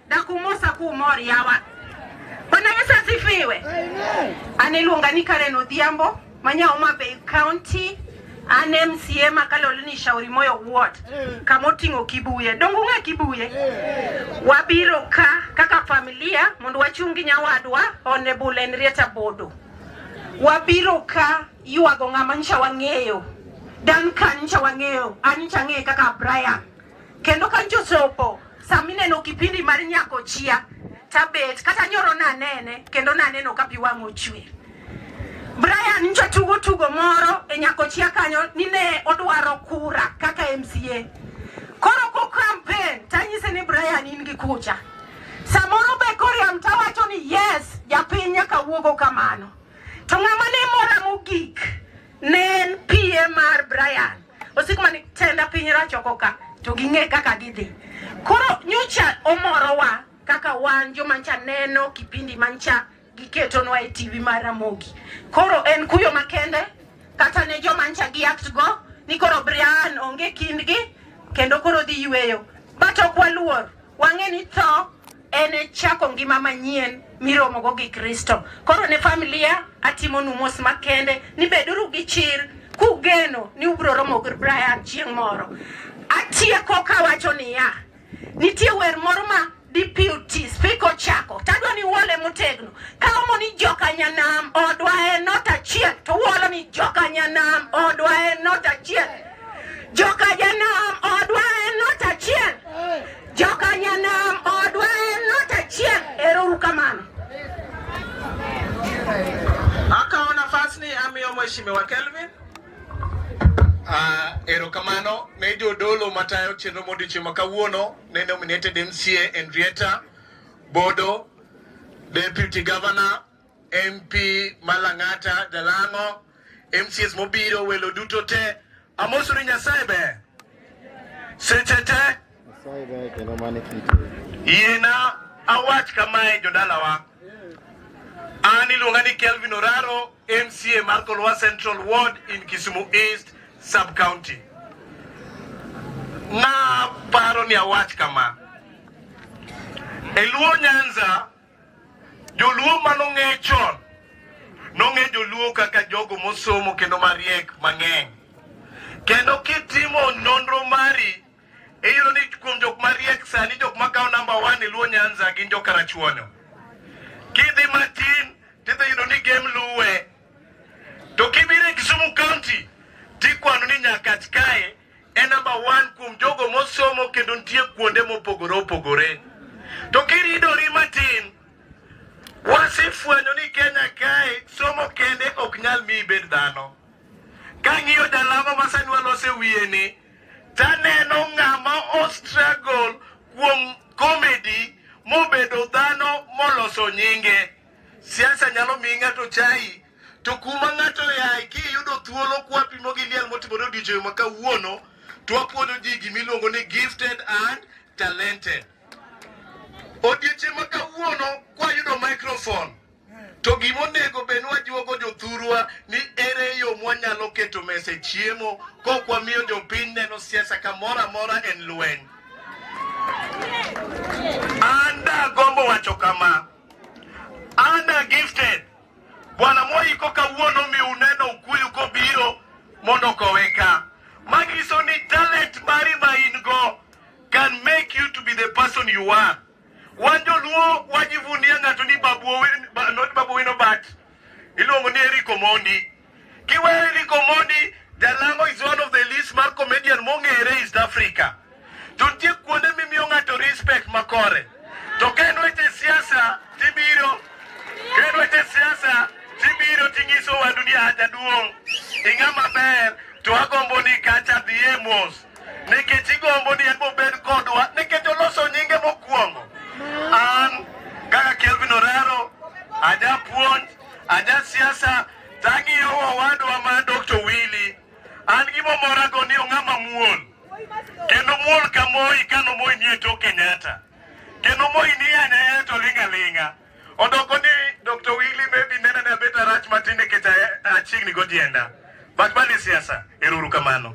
na kumusa ku mor yawa Bwana Yesu asifiwe. Amen. Anilunga ni Karen Odhiambo manya Homa Bay County an MCA makalolo ni Shauri Moyo Ward eh. kama oting'o Kibuye dongo ng'e Kibuye eh. wabiro ka kaka familia mondo wachungi nyawadwa Honorable Henrietta Bodo wabiro ka yuago ng'ama ncha wang'eyo dan kan ncha wang'eyo an ncha ng'eyo kaka Brian Kendo ka jochopo sami neno kipindi mar nyako chia tabet kata nyoro nanene kendo naneno ka pi wang' ochwe. Brian nyocha tugo tugo moro e nyako chia kanyo ni ne odwaro kura kaka MCA. Koro ko campaign tanyise ni Brian in gi kucha. Samoro be koriam tawacho ni yes japiny nyaka wuogo kamano. To ng'ama ne mora mogik ne en PM mar Brian. osik mani tenda piny rach oko ka to ging'e kaka gidhi koro nyocha omorowa kaka wan jomancha neno kipindi mancha giketonwa e tv mar Ramogi koro en kuyo makende kata ne jomancha gi act go ni koro Brian onge kindgi kendo koro dhi yweyo but ok waluor Wang'e ni tho en chako ngima manyien miromogo gi Kristo. Koro ne familia atimonu mos makende ni beduru gi chir kugeno ni ubiro romo gi Brian chieng' moro. Atieko kawacho niya, nitie wer moro ma deputy speaker ochako tadwa ni uole motegno ka omo ni joka nyanam odwa en not achiel to uolo ni joka nyanam odwa en not achiel Mheshimiwa Kelvin. Uh, erokamano ne jodolo matayo chenro modiochieng' ma kawuono ne nominated MCA Henrietta Bodo, Deputy Governor MP Malang'ata, Dalango, MCS mobiro, welo duto te. Amosuru Nyasaye ber. Seche te. Nyasaye ber kendo mane kite. Yiena awach kamae jodalawa. An iluonga ni Kelvin Oraro, MCA mar Kolwa Central Ward in Kisumu East Sub-County. Na paro ni awach kama. E Luo Nyanza Joluo mano ng'e chon nong'e joluo kaka jogo mosomo kendo mariek mang'eny. Kendo kitimo nonro mari iyudo ni kuom jok mariek sani jok makawo namba one e Luo Nyanza gin jo Karachuonyo. Kidhi matin tidhi yudo ni gem luwe. To kibiro e Kisumu County tikwano ni nyaka kae en namba one kuom jogo mosomo kendo nitie kuonde mopogore opogore. To kiridori matin, wasefwenyo ni Kenya kae somo kende ok nyal mi ibed dhano. Kang'iyo jalamo ma sani walose wiye ni, taneno ng'ama ostruggle kuom comedy mobedo dhano moloso nyinge. Siasa nyalo miyi ng'ato chai to kuma ng'ato yaye kiyudo thuolo kwapimo gi liel motimore odiechieng' ma kawuono to wapuonjo ji gimiluongo ni gifted and talented odiechieng' ma kawuono kwayudo microphone to gima onego bed wajuogo jothurwa ni ere yo mwanyalo keto mese chiemo kok wamiyo jopiny neno siasa kamoro amora en lweny an dagombo wacho kama an gifted Bwana moiko kawuono mi uneno Okuyu kobiro mondo kowe ka. Manyiso ni talent mari ma in go can make you to be the person you are. Wan joluo wajivunia ng'ato ni babu owino bat iluongo ni Eric Omondi. Kiwere ni Komodi Jalango is one of the least mar comedian mong'ere East Africa. To nitie kuonde mimiyo ng'ato respect makore. To ka en weche siasa tibiro, ka en weche siasa tibiro ting'iso wa dunia haja duong'. Ing'a maber to agombo ni kacha dhi e mos. Nikech igombo ni en bobed kodwa nikech oloso nyinge mokwongo. An kaka Kelvin Orero ajapuonj Aja siasa tang'iyo owadwa ma Dr. Willy, an gimomorago ni ong'ama muol kendo muol ka Moi kano Moi nie tok Kenyatta kendo Moi ni anyaya to linga linga odoko ni Dr. Willy maybe nena na beta rach matin nikech achiegni godienda but mani siasa. Eruru kamano.